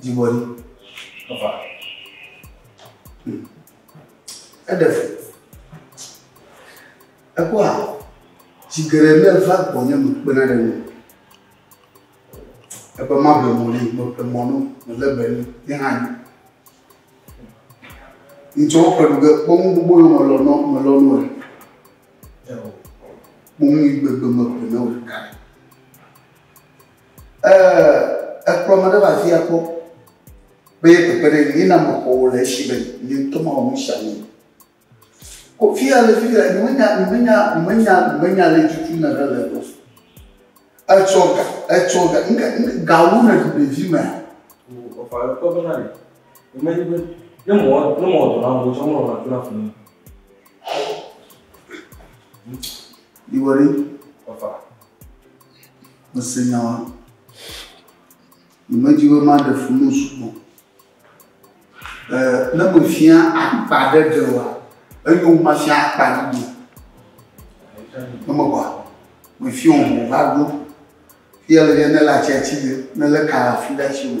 Dzigbɔɖi. Eva. Hmm. Eɖe fu. Ekpɔa, tsi geɖe ne va gbɔnye mekpena ɖe nu. Ebe maƒle mɔ ne, meƒle mɔ no, mele be nu, ne hã nyi. Ŋtsɔ ƒe ɖu ge kpɔ nu gbogbo yɔ melɔ nɔ, melɔ nu le. Kpɔ nu yi gbegbe meƒle ne wòle ka. Eh, ekplɔ me ɖe va afia kpɔ be ye kpekpe ɖe ŋu, yina mexɔ wò le esi be nye ŋutɔ mawɔ nu sia nu. Ko fia le fi le, menya, menya, menya, menya le tutu ne ɖe le egbɔ. Etsɔ ga, etsɔ ga, nke, nke gawo ne ɖu ɖevi mea. Ọ̀fà rẹ̀ kọ́ bẹ́ẹ̀ rẹ̀. Ìmọ̀ ẹni pé ní mọ̀ ní mọ̀ ọ̀dọ̀ làwọn ọ̀dọ̀ ọmọ ọ̀rọ̀ àfúrà fún mi. Ìwọ rí. Ọ̀fà. Mese nya wa. Nyemedi be maɖe fu nu sugbɔ. Eh, ne mefia akpa ɖe ɖe wa, enyo wu mafia akpa ɖiɖi. Ne mewɔa, mefia wo va ɖo. Fia le yɛ ne le atsiatsi ɖe, ne le kala fi ɖe atsi me.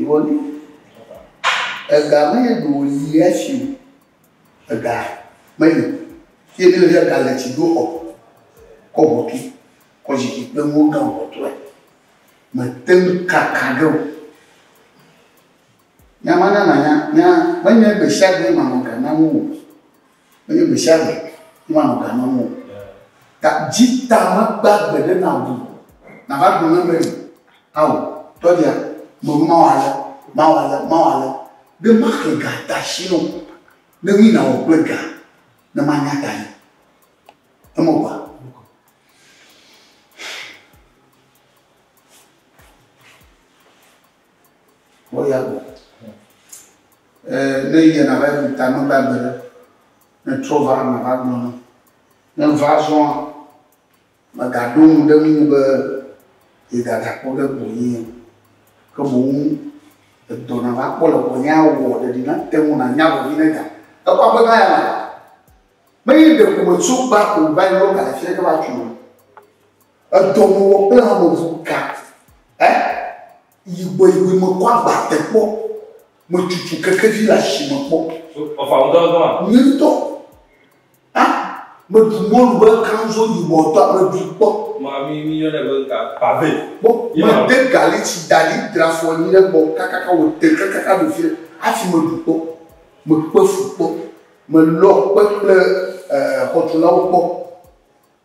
Ìwɔnu. Ega me ye ɖo wòyi esi o. Ega meli o. Fi yi míle fia, ga le tsi doxɔ, kɔ hokui, kɔ zikpui kple nuwo gã kpɔtɔe. Mete ŋu kaka ɖe o. Nya ma na manya, nya menye gbesiagbe manɔ ga nam o. Menye gbe sia gbe ŋu wòanɔ ga nɔm o. Ta dzi ta magba gbe ɖe na wò o. Nàva gblɔ nam be, Ao, tɔgbia, mewɔ be mawɔ ale, mawɔ ale, mawɔ ale, be maxe ga de asi na wò, ne nui nàwɔ kple ga ne manya tae. Eme kɔa? Kpɔ ya gbɔ. E, ne yɛ na va yi ta mebe agbe ɖe. Ne trɔ va na va gblɔ ne. Ne va zɔa, me ga ɖo nu ɖe nu be ye ga da kpɔ ɖe gbɔ yɛ. Ke boŋ edɔ na va kpɔ le gbɔ yɛ a wɔ ɖeɖi na te ŋu na nya vevi ne ga. Ekɔ agbe na ya na. Me yi ɖe ko me tso gba ko va yi lɔ ga le fiɛ ke va tsu. Edɔmewɔ kple hameŋu ka ɛ yigboyigboe mekpɔ agbate kpɔ. Metutu kekevi le asime kpɔ. Nye ŋutɔ. A meɖu mɔlu be kanzo yibɔ tɔ meɖu kpɔ. Kpɔ mede galitsi da ɖi dra afɔ anyi ɖe gbɔ kakaka wòte kakaka ɖo fi ɖe hafi meɖu kpɔ. Mekpe fu kpɔ. Melɔ kpe kple ɛɛ xɔtulawo kpɔ.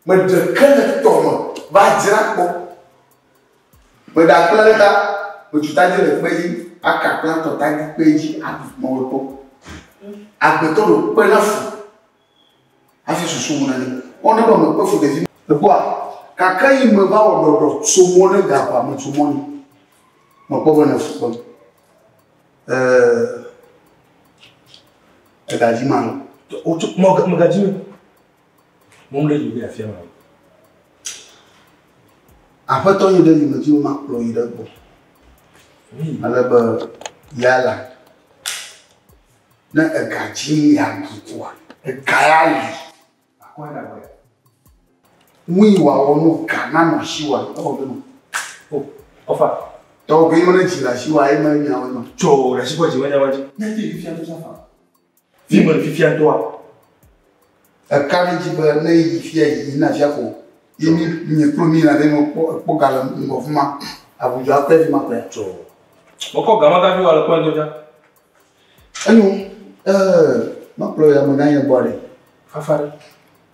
Meɖeke le tɔ me va dzra kpɔ. Meɖakpla ɖeka, metsu tadi le kpe dzi, aka kpla tɔ tadi kpe dzi, aɖu mɔwetɔ. Agbetɔ ɖo kpe na fu, hafi susu ŋu na ni. Ɔ ne be mekpe fu ɖevi. Ekpɔa, gake yi me va wɔ ɖɔɖɔ so mɔ ne ga ƒa me tso mɔ ni. Mekpɔ be ne fu kpem. Ɛɛ, egadzi ma lɔ. Wotso mɔ, megadzi ma. Mɔm ɖe yime afia ma. Aƒetɔ yi ɖe yime dzi woma kplɔ yi ɖe gbɔ. Ale be yala. Ne ega dzi ya dukua, ega ya li. Akɔ ya ɖe Nu yi wòawɔ no ga na nɔ si wa ewɔ ɖe nɔ. O, ɔfa. Tɔgbe yi me ne dzi la si wa eme nyawo nɔ. Tso ɖe si kɔ dzi me nyawo dzi. Ne ti fifia to safa. Vi me fifia doa. Eka ɖe dzi be ne yi fia yi na fia ko. Yi mi mi klo mi na ɖe no kpɔ kpɔ gale ŋgɔ fuma. Abuja akpɛ fi ma kpɛ. Tso. Wokɔ gama gafi wa le kpɔ ŋdɔ dza. Enyo. Eh, ma kpɔ ya mo na ye bɔ ɖe. Fafa ɖe.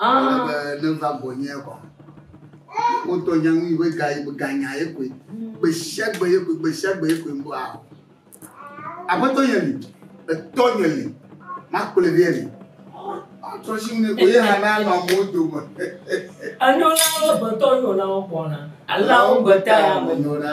Ele be ne va gbɔnyea kɔ. Wotɔ nya nu be ga ye ga nya ye koe. Gbe sia gbe ye koe, gbe sia gbe ye koe ŋgɔa. Aƒetɔ nye li, etɔ nye li, makplɔe vɛ li. Atrɔ si ne ko ye hã na nɔ amewo dome. Enyɔna wo gbetɔ nyɔna wo gbɔna. Alawo gbeta ya me nyɔna.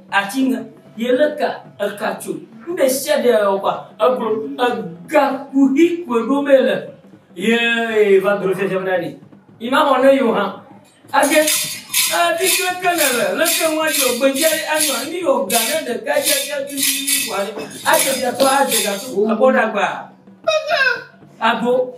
Ati ŋe ye le ka eka tso nuɖe sia ɖe ɔgba eglo ega kuhi kue ɖo me le ye va dro sia sia ɖe ima mɔ ne yo ha age ebi kle ke ne le le ke ŋwa yo gbe je anwa ni yo ga ne de ka je je tu ti wa ne ate ja to ate ja to abɔ dagba agbo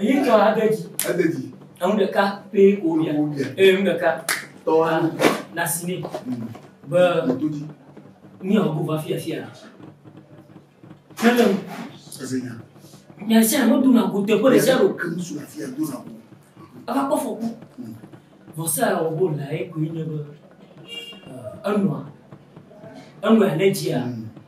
Èyi tɔ ade dzi. Ede dzi. Enu ɖeka pé kò wobia. Wobia. Eye enu ɖeka. Tɔ wa. Na si nɛ. Mm. Be. Mɔto dzi. Ní ɔ gbogbo afi afi a. Kele. Eze nya. Nya sia nya do na go teƒe ɖe sia ɖo. Ke ŋusu afi a do na go. Ava kpɔ fɔku. Mm. Vɔsa ya wɔ bol la ye koe nye be. Enua. Enua ne dzia. Mm.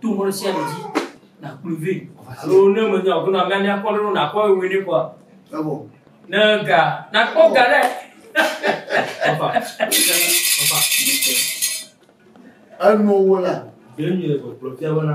to ŋkɔ ɖe sia ɖe dzi nakplɔe vɛ alo ne menya o bena mia mia kpɔ ɖe nakpɔ ewe ne kɔa ebo ne ga nakpɔ ga ɖe papa papa enu wo la yɛn nyɛ gbɔgblɔ fia bena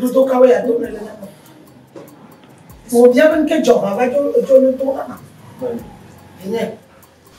Dodo kawe ya dodo le nama. Wo bia ben ke joba va jo jo ne to nama. Ele.